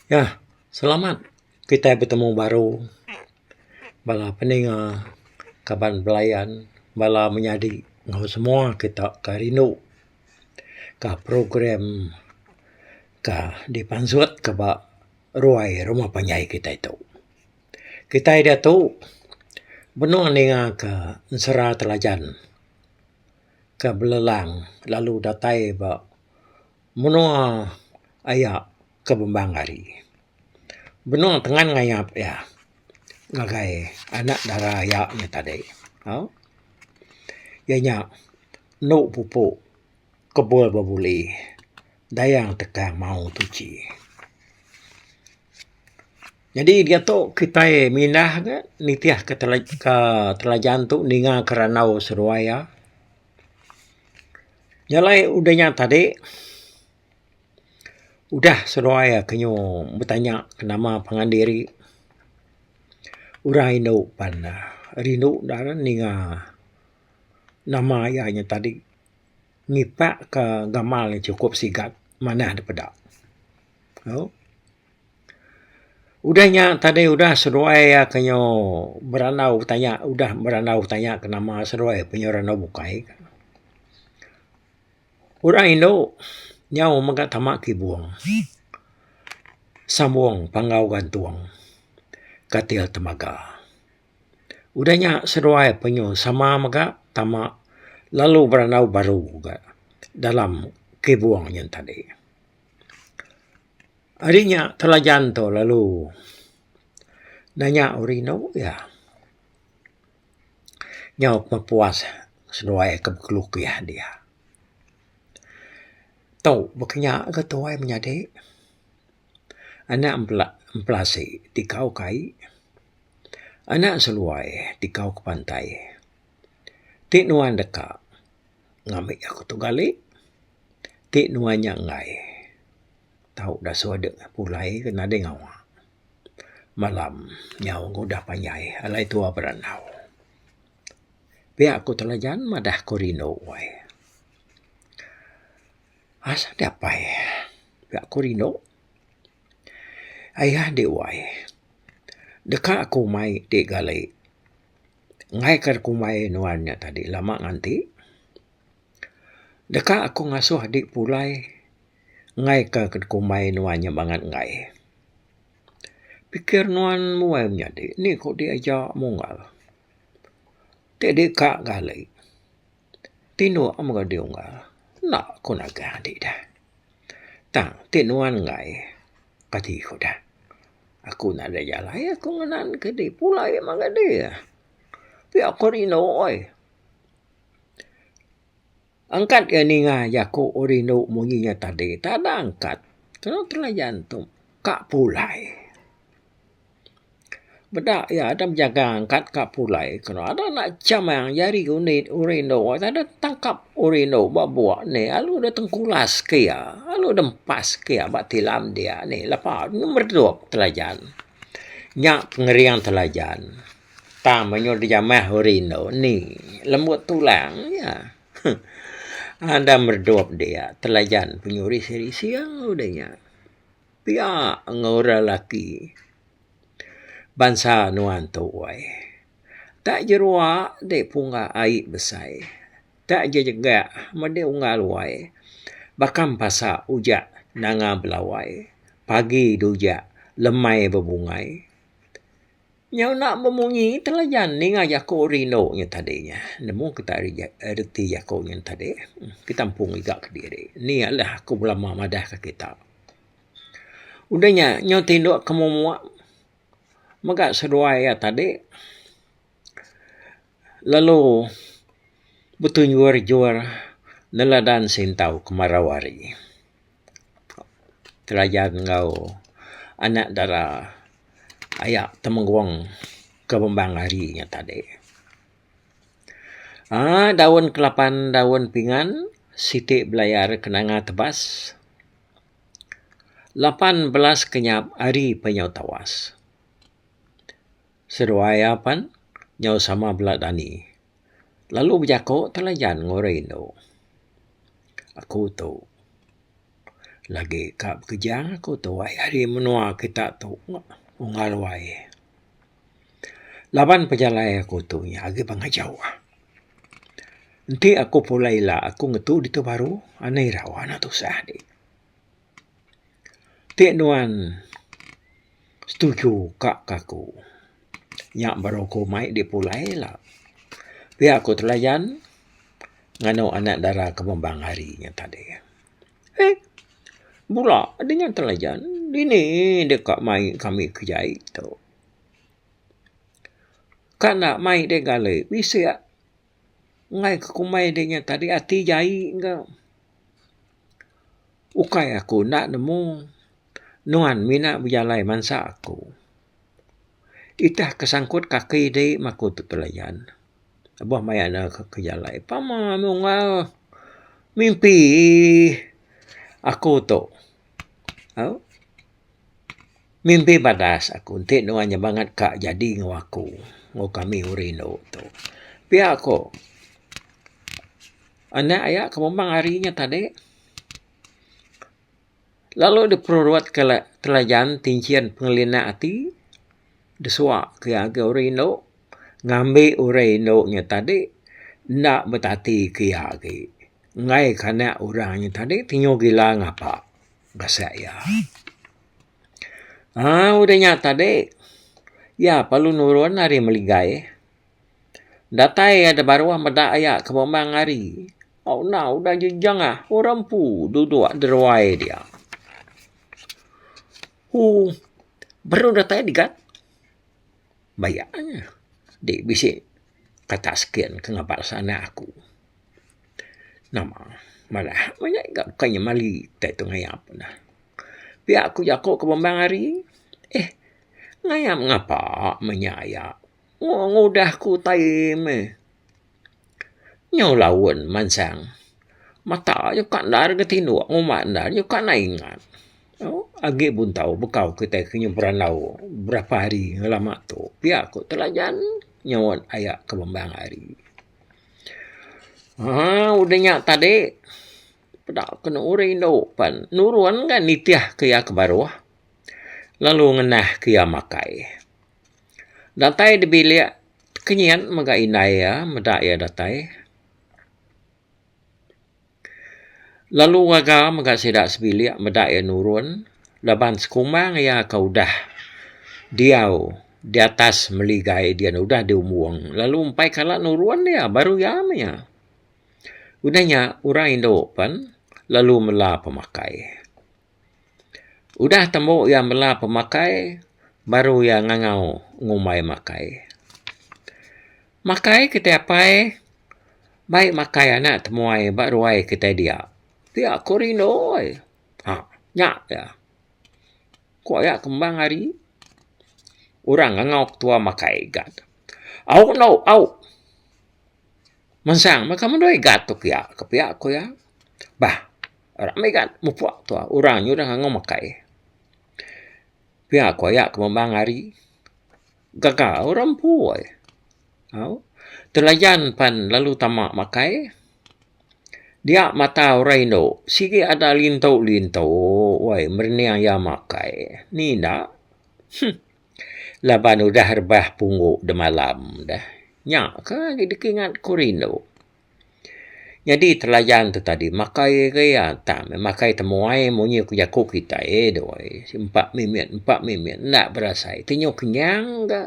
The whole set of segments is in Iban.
Ya, selamat kitai betemu baru bala peninga kaban belayan bala menyadi enggau semua kita ke rindu ka program ka dipansut ke ba ruai rumah panjai kitai tu. Kitai diatu benung ninga ka ensera telajan ka belelang lalu datai ba menua aya ke bembang ari. Benung tengan ngayap iya ngagai anak dara iya nya tadi tau iya nya enu pupu kebul bebuli dayang tekan maong tuchi. Nyadi diatu kitai mindah ne nitih ka telajan tu ninga ka randau seduai iya. Nyalai udah nya tadi, udah seduai aku nyu betanya ke nama pangan diri, orang indu pan ne rindu dalau ninga nama iya nya tadi ngipak ke gamal nya sukup sigat manah dipeda. Au. Udah nya tadi udah seduai iya ke nyo berandau betanya udah berandau betanya ke nama seduai pe nyo randau bukai ka. Orang indu nyau mega tama kibung sambung panggau gantung katil temaga. Udah nya seduai pe nyo sama mega tama lalu berandau baru ka dalam kibung nyen tadi. Ari nya telajan tu lalu nanya uri inu iya. Nyau ku puas seduai ku bekelukih dia. Tu baka nya ga tuai menyadi anak bela belasi ti kau kai anak seduai ti kau ke pantai ti nuan deka ngambi aku tu gali. ti nuan nya enggai tau dasuh dek pulai ke nadai ngawa malam nyau ke udah panjai alai tua berandau. Pia ku telajan madah ku rindu uai. Asal dapai ga ku rindu ayah ande uai deka ku umai ti galai ngaika ku umai nuan nya tadi lama nganti. Deka aku ngasuh adi pulai ngaika ke dikumbai nuan nya bangat enggai. Pikir nuan muai menyadi nih ko dik aja munggal. Ti adi ka gali ti inu a mega dih unggal enda ko nagah adi dah. Tang ti nuan enggai kati ko dah. Aku enda ada jalai aku ngenan ke dik pulai mega dih. Pia ko rindu ai. Angkat ga ninga jaku orang rindu munyi nya tadi. Tada angkat. Tau telayan tu. Ka pulai. Beda iya ada bejaga angkat ka pulai. Kenu ada anak chamang jari unit orang rindu. Tada tangkap orang rindu ba bua ni. Lalu dep tengkulas ke iya. Lalu dep empas ke iya ba tilam dia ni. Lepa meredup telayan. Nya pengering telayan. Tang menyul dijamah uri endo ni lembut tulang nya. Anda meredup dia telajan penyuris iri sing udah nya. Pia enggau orang laki bansa nuan tu uai. Tak jerua ti punga ai besai. Tak jejegak mede unggal uai. Bakam pasa ujak nanga belawai. Pagi dujak lemai bebungai. Nya enda bemunyi telayan ninga jaku rindu nya tadi nya. Nemu kita reti jaku nya tadi. Ketampung mega ke diri. Ni alah aku belama madah ke kita. Udah nya nyau ti indu ke mumuk mega seduai iya tadi. lalu betunjur-jur neladan sintau kemarau hari. Telajan enggau anak dara aya temenggung ke bembang hari nya tadi. Aaa daun kelapan daun pingan siti belayar ke nanga tebas. Lapan belas kenyap hari pe nyau tawas. Seduai iya pan nyau sama bala dani lalu bejako telayan ngoroi indu. Aku tu lagi ka bekeja aku tu ai ari menua kita tu unggal wai. Laban pejalai aku tu nya agi pengejau. Enti aku pulai ila aku ngetu ditu baru anai ira wana tusah dik. Ti nuan setuju ka ke aku nya baru ku mai dipulai la. Pia ku telayan nganu anak dara ke bembang hari nya tadi. Eh bula dengan telayan dini deka mai kami ke jai tu. Ka enda mai deh gale bisi angai ke kumbai de nya tadi ati jai ga. Ukai aku enda nemu nuan mina bejalai mansa aku. Itah ke sangkut kaki ti meh aku ti pelayan. Aba maya ne ke jalai pama nunggal mimpi aku tu. Au mimpi badas aku ti nuan nya bangat ka jadi enggau aku enggau kami urang indu tu. Pia ko. Anak iya ke memang hari nya tadi lalu diperut ke telajan ti enchin pengelinak ati disua ke iya agak urih indu ngambi urih indu nya tadi enda betati ke iya agi enggai ke anak orang nya tadi ti nyu gila ngapa base iya. Aaa udah nya tadi iya perlu nurun ari meligai. Datai iya da baruh meda iya ke memang ari. Au enda udah ji jangah orang empu duduk deruai dia. Hoo baruh datai digat bayak nya di bisi kata skin ke ngabar sanda aku. Nama madah meh nya ga bukai nya mali tai tu ngayap neh. Pia ku jaku ke memang ari eh ngayap ngapa meh nya iya. Wong ngudah ku tai meh. Nyu laun mansang. Mata aja ka endar ga tinduk ngumba endar aja ka nai ingat. Agi buntau bekau kitai ke nyu berandau berapa hari ngelama tu. Pia ku telajan nyuan aya ke bembang hari. Haa udah nya tadi peda ke uri indu pen nurun ga nitih ke iya ke baruh lalu ngenah ke iya makai. Datai da bilik kenyin mega indai iya meda iya datai. Lalu gaga mega sida sebilik meda iya nurun laban sekumang iya ke udah diau di atas meligai dian udah di umbung lalu empai kala nurun iya baru iya meh iya. Udah nya orang indu pen lalu mela pemakai. Udah tembu iya mela pemakai, baru iya ngangau ngumbai makai. Makai kitai apai, mai makai anak temuai ba ruai kitai dia. Pia ku rindu oi. Haa, nya pia. Ku iya kembang ari, orang ngangau ke tuai makai gat. Au endo, au. Mansang meh ka mandoi gat tu pia. Pia ku iya. Bah. Rami ga mupok tu ah orang nya udah ngangau makai. Pia ko iya ke memang ari gaga orang empu ai. Au telayan pan lalu tama makai dia mata orang indu sigi ada lintu lintu wai merening iya makai ni enda huh laban udah rebah punggu demalam dah nya ka dikinggat ku rindu. Nyadi telayan tu tadi makai iri atak meh makai temuai munyi ku jaku kitai eh doi empa minit empa minit enda berasai ti nyau kenyang ga.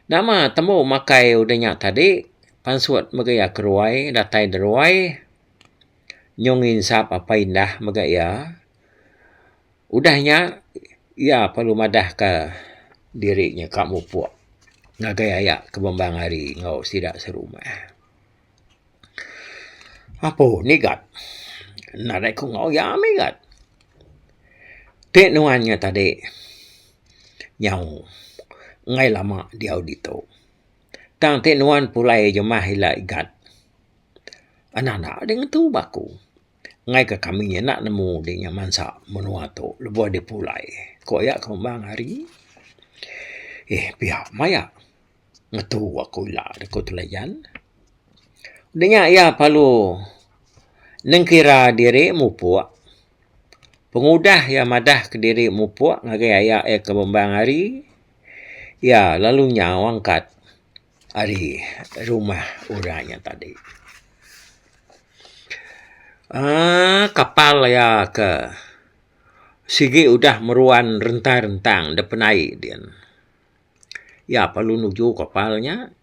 Nama tembu makai udah nya tadi pansut mega iya ke ruai datai da ruai nyau nginsap apai indah mega iya. Udah nya, iya perlu madahka diri nya ka mupuk ngagai aya ke bambang ari enggau sida serumah. Apo nigat? Nadai ku enggau iya migat. Ti nuan nya tadi nyau enggai lama diau ditu. Tang ti nuan pulai jemah ila igat, enda enda deh ngetu ba aku. Enggai ke kami nya enda nemu deh nya mansa menua tu lebuh deh pulai. Ku iya ke umbang hari eh pia maya ngetu aku ila deh ku Tulayan. Deh nya iya perlu nengkira diri mupuk pengudah iya madah ke diri mupuk ngagai iya ke umbang hari iya lalu nyau angkat. ari rumah orang nya tadi uhh kapal iya ke sigi udah meruan rentang-rentang dep penai din iya perlu nuju kapal nya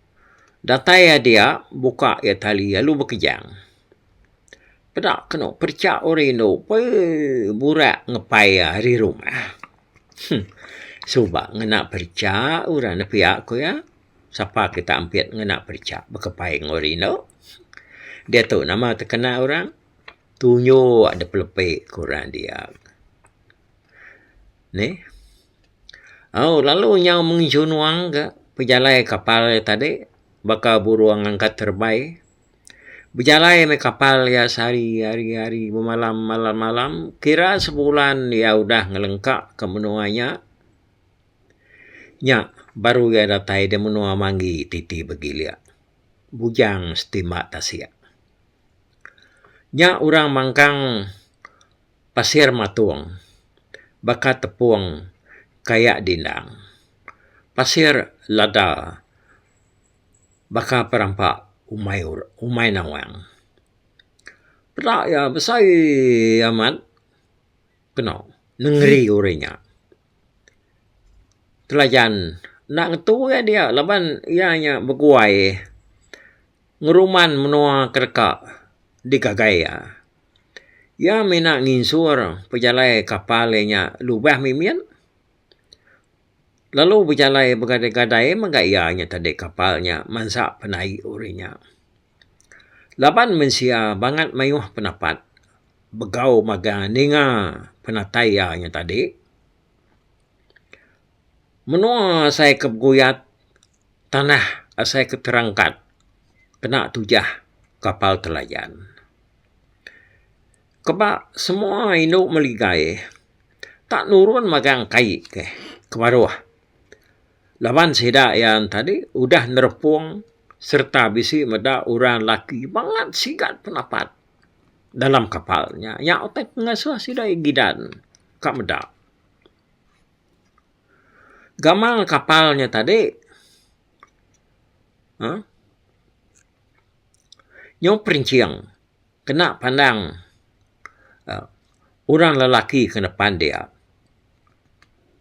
datai iya dia buka iya tali lalu bekejang. peda kenu perecha orang indu pee burak ngepai iya ari rumah huh suba ngena perecha orang enda pia ku iya sapa kita ampit ngena perecha bekepai enggau orang indu diatu nama tekena orang tunyo dep lepe ke orang dia neh au lalu nyau mengejunung ka pejalai kapal tadi baka burung angkat terebai. Bejalai meh kapal iya sehari hari hari bemalam malam malam kira sebulan iya udah ngelengka ke menua nya nya baru iya datai da menua manggi ti ti begili bujang setimba tasik nya orang mangkang pasir matung baka tepung kayak dindang pasir lada. baka pe rampa umai ora umai nawang. Peda iya besai amat peno nengeri uri nya. Telajan enda ngetu ugai dia laban iya nya beguai ngeruman menua ke deka digagai iya. Iya mina nginsur pejalai kapal iya nya lubang mimit. lalu bejalai begadai-gadai mega iya nya tadi kapal nya mansa penaie uri nya. Laban mensia bangat mayuh pendapat begau magang ninga penatai iya nya tadi. Menua asai ke beguyat, tanah asai ke terangkat kena tujah kapal telayan. Keba semua indu meli gaie ta nurun magang kai ke kebaruh laban sida iya tadi udah nerepong sereta bisi meda orang lelaki bangat sigat pendapat dalam kapal nya. Nya utai pengasuh sida iya gidan ka meda. Gamal kapal nya tadi uhh nyau perinching. kena pandang aa orang lelaki ke depan dia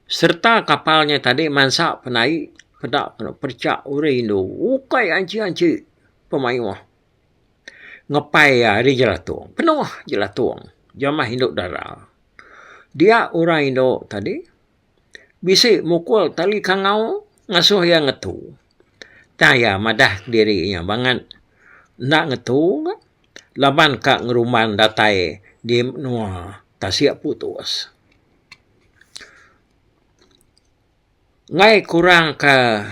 sereta kapal nya tadi mansa penai peda kenu percha uri indu ukai anchi-anchi pemayuh ngepai iya ari jelatung penuh jelatung jamah indu dara dia orang indu tadi bisi mukul tali kangau ngasuh iya ngetu. Tang iya madah diri iya bangat enda ngetu ka laban ka ngerumban datai di menua tasik putus. Ngai kurang ka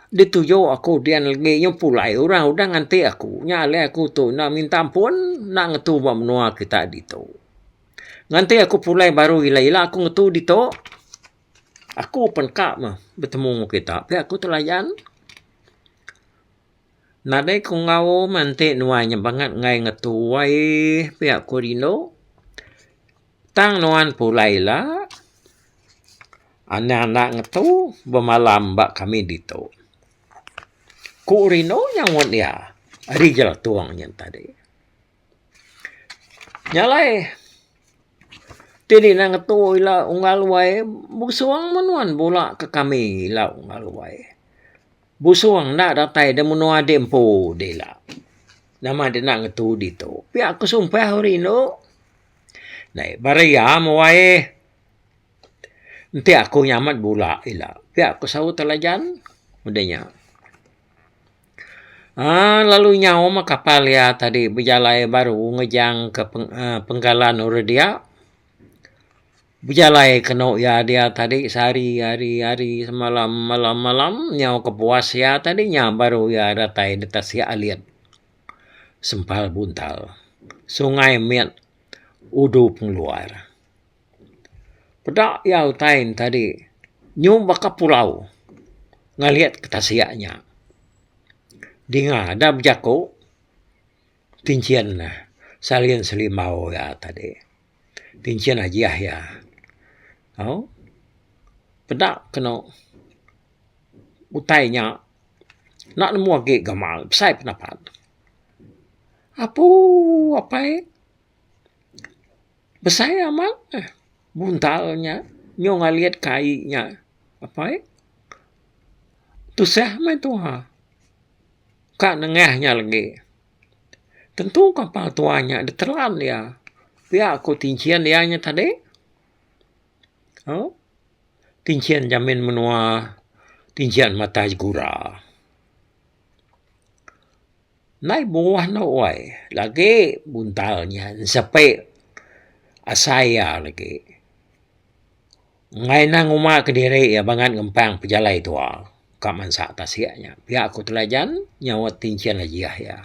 dituju aku dian legi nyau pulai orang udah nganti aku nya alai aku tu enda minta ampun enda ngetu ba menua kita ditu. Nganti aku pulai baru ila ila aku ngetu ditu aku pun ka meh betemu enggau kita pia aku tu layan. Nadai ku ngaum enti nuan nya bangat enggai ngetu ai pia ku rindu. Tang nuan pulai ila anang enda ngetu bemalam ba kami ditu. Ku rindu nya ngut dia ari Jeratong nya tadi. Nya alai ti di enda ngetu ila unggal wai busung meh nuan bula ke kami ila unggal wai. Busung enda datai da menua di empu dila. Nama dek enda ngetu ditu. Pia ku sumpah ku rindu. Nei Berea meh wai. Enti aku nyamet bula ila. Pia ku saut Telajan. Meda nya. Aa lalu nyau meh kapal iya tadi bejalai baru ngejang ke peng aa penggalan ore dia. Bejalai kenu iya dia tadi sehari hari hari semalam malam malam nyau kepuas iya tadi nya baru iya datai detas iya alit sempal buntal sungai mit udu pengeluar. Peda iya utai ne tadi nyung baka pulau ngeliet ke tasik nya. Dinga da bejaku ti enchin ne salin selimbau iya tadi. Ti enchin ajiah iya. Au peda kenu utai nya enda nemu agi gamal besai pendapat. Apuuh apai. Besai ama eh buntal nya nyong alit kai nya apai tusah meh tuha ka nengah nya legi tentu ka pa tuha nya ditelan iya pia ku tinchen iya nya tadi au tinchen jamin menua tinchen matai segura. Ndai buah enda wai lagi buntal nya sepi asai iya lagi mei nang uma kediri iya bangat ngempang pejalai tuwa ka mansa tasik nya pia ku telajan nyauit tinchen ajiah iya.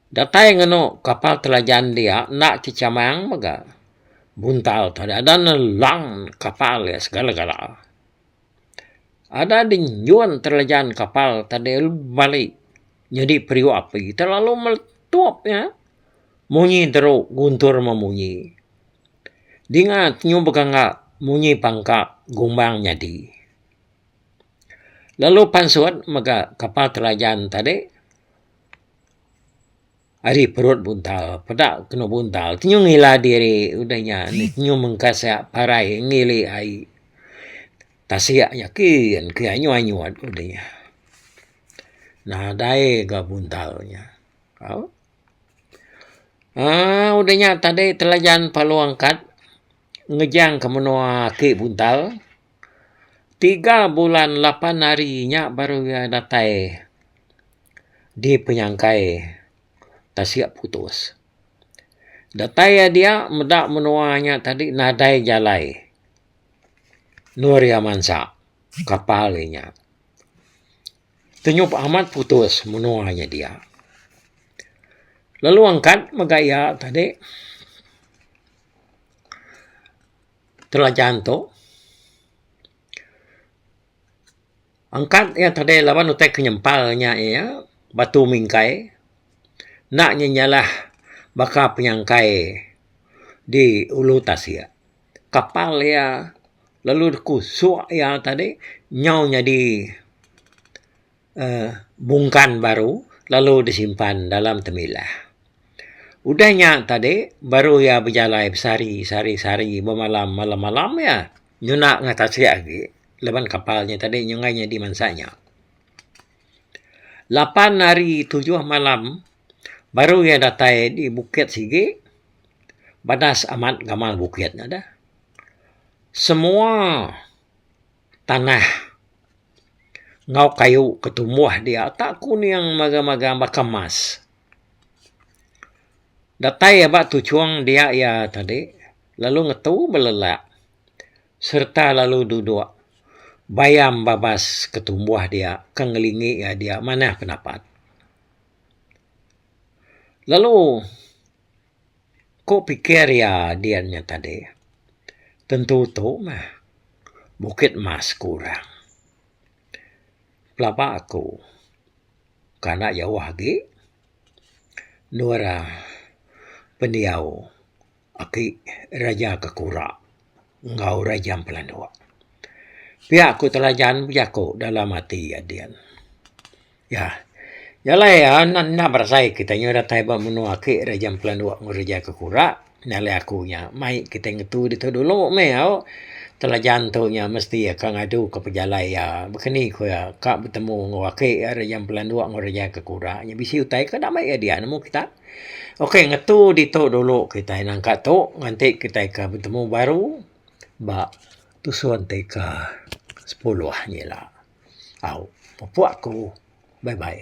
Datai ngenu kapal telajan dia enda ti chamang mega buntal tu ada ne lang kapal iya segala gala. Ada di nyun terlejan kapal tadi lu bali nyadi periuk api telalu meletup nya munyi teru guntur memunyi dinga tenyum pekanga munyi pangka gumbang nyadi lalu pansut mega kapal terlejan tadi. Ari perut buntal, peda kenu buntal ti nyu ngila diri udah nya nyu mengkasa parai ngili ai tasik nya kin ke anyut anyut udah nya. Nadai ga buntal nya au aaa udah nya tadi telajan palung angkat ngejang ke menua ake buntal. Tiga bulan lapan hari nya baru iya datai dipenyangkai tasik putus. Datai iya dia meda menua nya tadi nadai jalai nur iya mansa kapal iya nya. Tenyup amat putus menua nya dia. Lalu angkat mega iya tadi. telajan tu angkat iya tadi laban utai ke nyempal nya iya Batu Mingkai enda nya nyalah baka penyangkai di Ulu Tasik. Kapal iya lalu ku suk iya tadi nyau nyadi uhh bungkan baru lalu disimpan dalam temilah. Udah nya tadi baru iya bejalai besari sari sari bemalam malam malam iya nyuna enggau tasik agi laban kapal nya tadi nyungkai nya dimensa nya. Lapan hari tujuh malam baru iya datai di bukit sigi badas amat gamal bukit nya deh. Semua. tanah enggau kayu ke tumbuh dia ta kuning magang magang baka emas. Datai aba tuchong dia iya tadi lalu ngetu belelak sereta lalu dudok bayam babas ke tumbuh dia ke ngelingi iya dia manah pendapat. Lalu. Ku pikir iya dian nya tadi. Tentu tu meh. Bukit Mas ku orang. Pelaba aku kan enda jauh agi endur pendiau aki Raja Kekura enggau Raja Empelanduk. Pia ku telajan bejaku dalam ati iya dian. Iya. Iya alai anak enda berasai kitai nyau datai ba menua ake ira jam pelanduk enggau reja ke kura nya alai aku nya mai kitai ngetu ditu dulu meh au. Telajan tu nya mesti iya ka ngadu ka pejalai iya beken ni ku iya ka betemu enggau ake iya ira jam pelanduk enggau reja ke kura nya bisi utai ka damai iya diak nemu kita. Ok ngetu ditu dulu kitai nangka tu nganti kitai ka betemu baru ba Tusun ti ka sepuluh nyila. Au, pupuk aku. Bye bye.